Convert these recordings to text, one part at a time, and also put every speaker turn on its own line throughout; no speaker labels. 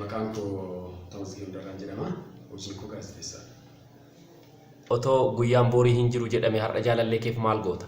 Maqaan koo Tamasgeen Darraan jedhama. Hojiin koo gaazexeessaa.
Otoo guyyaan boorii hin jiru jedhame har'a jaalallee keef maal goota?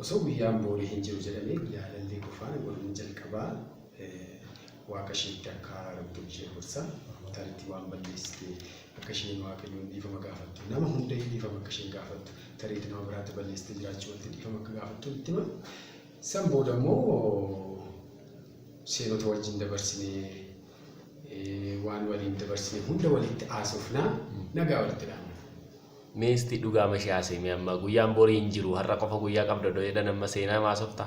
Osoo guyyaan
boorii hin jiru jedhame jaalallee koo faana waliin jalqabaa waaqa isheetti akka rabbiin ishee gorsa. Oromootaan itti waan balleessite akka isheen waaqayyoon dhiifama gaafattu nama hunda dhiifama akka isheen gaafattu tareetti nama biraatti balleessite jiraachuu walitti dhiifama akka gaafattu itti hima. San booda immoo seenota wajjin dabarsine, waan waliin dabarsine hunda walitti haasofna, nagaa walitti dhaamna. Meesti
dhugaama ishee haasa'e mee amma guyyaan borii hin jiru har'a qofa guyyaa qabda odoo jedhan amma seenaa maasofta.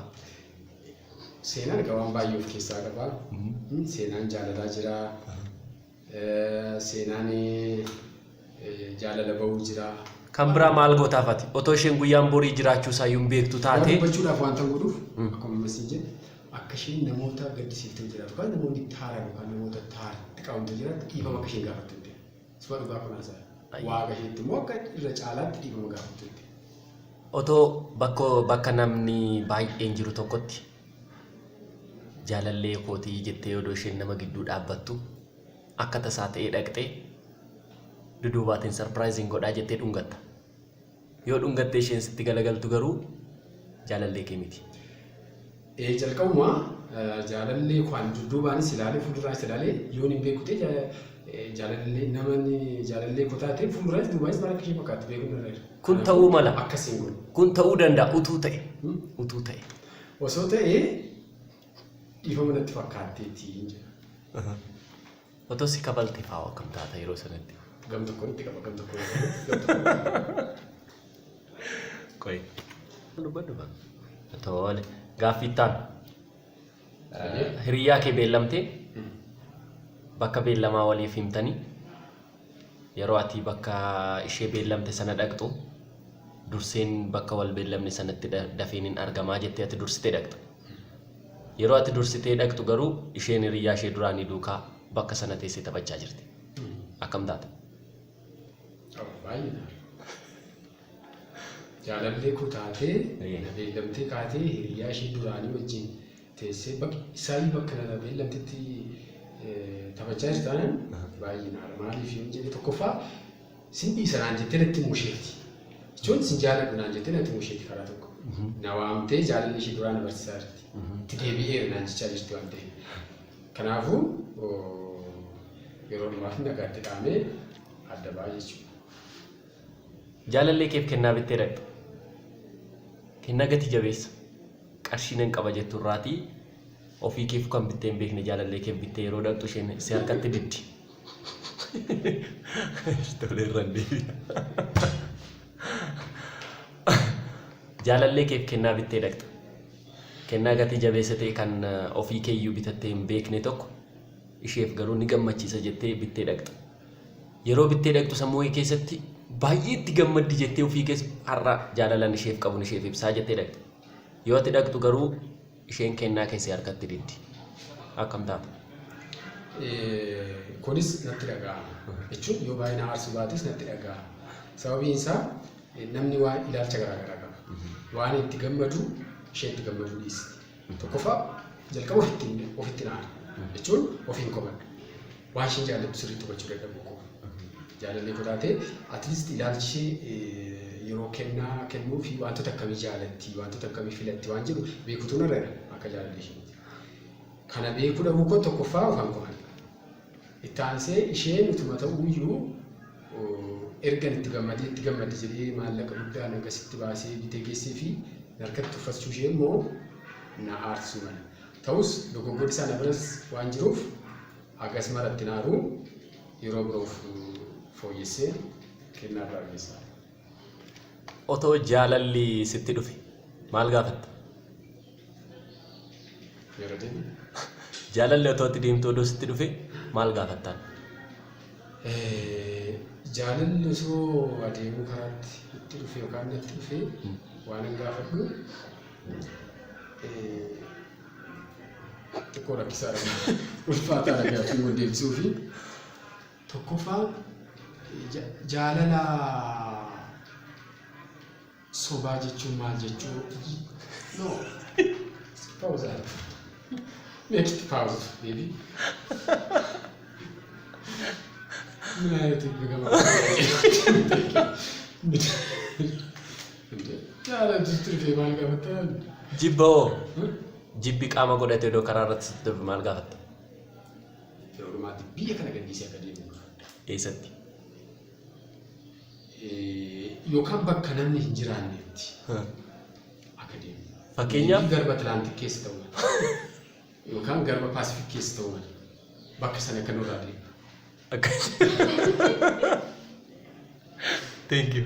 Seenaan egaa waan baay'ee of keessaa qaba. Seenaan jaalalaa jira. Seenaan jaalala ba'uu jira. Kan biraa maal
gootaaf ati? Otoo isheen guyyaan borii jiraachuu isaayyuu hin beektu Waan taate dubbachuudhaaf wanta godhuuf
akkuma amma siin jedhe akka isheen namoota gaddisiiftee jiraatu yookaan namoonni itti haaraan yookaan namoota itti haaraan itti qabamtee jiraatu dhiifama akka isheen gaafattu hin ta'e. Isuma dhugaa kun haasa'a. Ayyo. Waaqa isheetti immoo akka irra caalaatti dhiifama gaafattu hin ta'e. otoo bakka
bakka namni baay'een jiru tokkotti jaalallee kootii jettee odoo isheen nama gidduu dhaabbattu akka tasaa ta'ee dhaqxee duduubaatiin sarpiraayiziin godhaa jettee dhungatta. Yoo dhungattee isheen sitti galagaltu garuu jaalallee kee miti. Ee
jalqabuma jaalallee kwaan dudduubaanis ilaalee fuulduraanis ilaalee yoon hin beeku ta'e jaalallee namni jaalallee koo taate fuulduraanis duubaanis maal akka ishee fakkaatti beekuun irra jira. Kun ta'uu mala. Akkasiin
godhu. Kun
ta'uu danda'a
utuu ta'e. Utuu ta'e. Osoo ta'ee
dhiifama natti fakkaatteetti hin jedha. Otoo
si kabalte fa'aa akkam taata yeroo sanatti? Gam tokkoon itti qaba
gam tokkoon itti
qaba, gam tokkoon itti qaba. Qoy. Dubbadhu kan. Tole. Gaaffii itti aanu. Hiriyaa kee beellamtee bakka beellamaa waliif himtanii Yeroo ati bakka ishee beellamte sana dhaqxu, durseen bakka wal beellamne sanatti da- dafee nin argamaa jettee ati dursitee dhaqxa. Yeroo ati dursitee dhaqxu garuu isheen hiriyyaa ishee duraanii duukaa bakka sana teessee taphachaa jirti. Akkam taata? Baay'ee
ta'a. Jaalallee koo taatee, Ee. na beellamtee kaatee hiriyaa ishee duraanii wajjin teessee baqi isaayyuu bakka lala beellamtetti taphachaa jirti taanaan baay'ee naara maaliif yoon jedhe tokkoffaa sin dhiisa naan jettee natti himuu isheeti. Jechuun sin jaaladhu naan jettee natti himuu isheeti karaa tokko. Na waamtee jaalalli ishee duraa na barsiisaa jirti. Itti deebi'eera naan jechaa jirti waan ta'eef. Kanaafuu yeroo dhumaaf nagaatti dhaamee adda ba'a jechuudha.
Jaalallee keef kennaa bittee dhaqxe. Kennaa gati jabeessa. Qarshii nan qaba jettu irraatii ofii keefuu kan bittee hin beekne jaalallee keef bittee yeroo dhaqxu isheen si harkatti diddi. Tolee irraan deebi'a. Jaalallee keef kennaa bittee dhaqxe. Kennaa gatii jabeessa ta'e kan eh, ofii keeyyuu bitattee hin beekne tokko isheef garuu ni gammachiisa jettee bittee dhaqxe. Yeroo bittee dhaqxu sammuu kee keessatti baay'ee itti gammaddi jettee ofii keessa har'a jaalalan isheef qabun isheef ibsaa jettee dhaqxi. Yoo ati dhaqxu garuu isheen kennaa keessee harkatti diddi. Akkam taata?
Kunis natti dhaga'ama jechuun yoo baay'ee na aarsu baatus natti dhaga'ama. Sababiin isaa namni waan ilaalcha garaa garaa qaba. Waan itti gammadu ishee itti gammaduu dhiisti. Tokkoffaa jalqaba ofitti ofitti naana jechuun ofiin komadha. Waan isheen jaallattu sirriitti hubachuu dadhabuu koo. Jaalallee koo taatee atleast ilaalchi ishee eh, yeroo kennaa kennuu fi wantoota akkamii jaallatti wantoota akkamii filatti waan jedhu beekutu narra jira akka jaalallee ishee. Kana beekuu dhabuu koo tokkoffaa ofan komadha. Itti aansee isheen utuma ta'uuyyuu ergan itti gammadee itti gammadde jedhee maallaqa guddaan hagasitti baasee bitee geesseefii narkatti uffachuushee immoo na aarsuu mala. Ta'us dogoggorri isaa na biras waan jiruuf hagas mara itti hin aaru yeroo biroof fooyyesseen kennaa biraa geessaaf.
Otoo jaalalli sitti dhufe maal gaafatta?
Yeroo deemu. Jaalalli
otoo itti deemtu odoo sitti dhufe maal gaafattaan? Eh,
Jaalalli osoo adeemuu karaatti itti dhufe yookaan natti dhufe waanan gaafadhu eh, xiqqoo rakkisaadha. Ulfaataadha gaaffiin wal deebisuu fi tokkoffaa ja- jaalala Sobaa jechuun maal jechuu? No. Pause aadha. Next pause. Deebi. Min ayati begama. Jaala jirtu dee maal gaafataa? Jibba hoo?
Jibbi qaama godhatee odoo karaa irratti sitti darbu maal gaafatta?
Yeroo dhumaatti biyya kana gadhiisee akka deemu gaafadha. Eessatti? yookaan bakka namni hin jiraannetti akka deemu. Fakkeenyaaf? Garba
Atlaantik keessa
ta'uu mala. Yookaan garba Paasifik keessa ta'uu mala. Bakka sana akka nurraa
deemu. Thank you.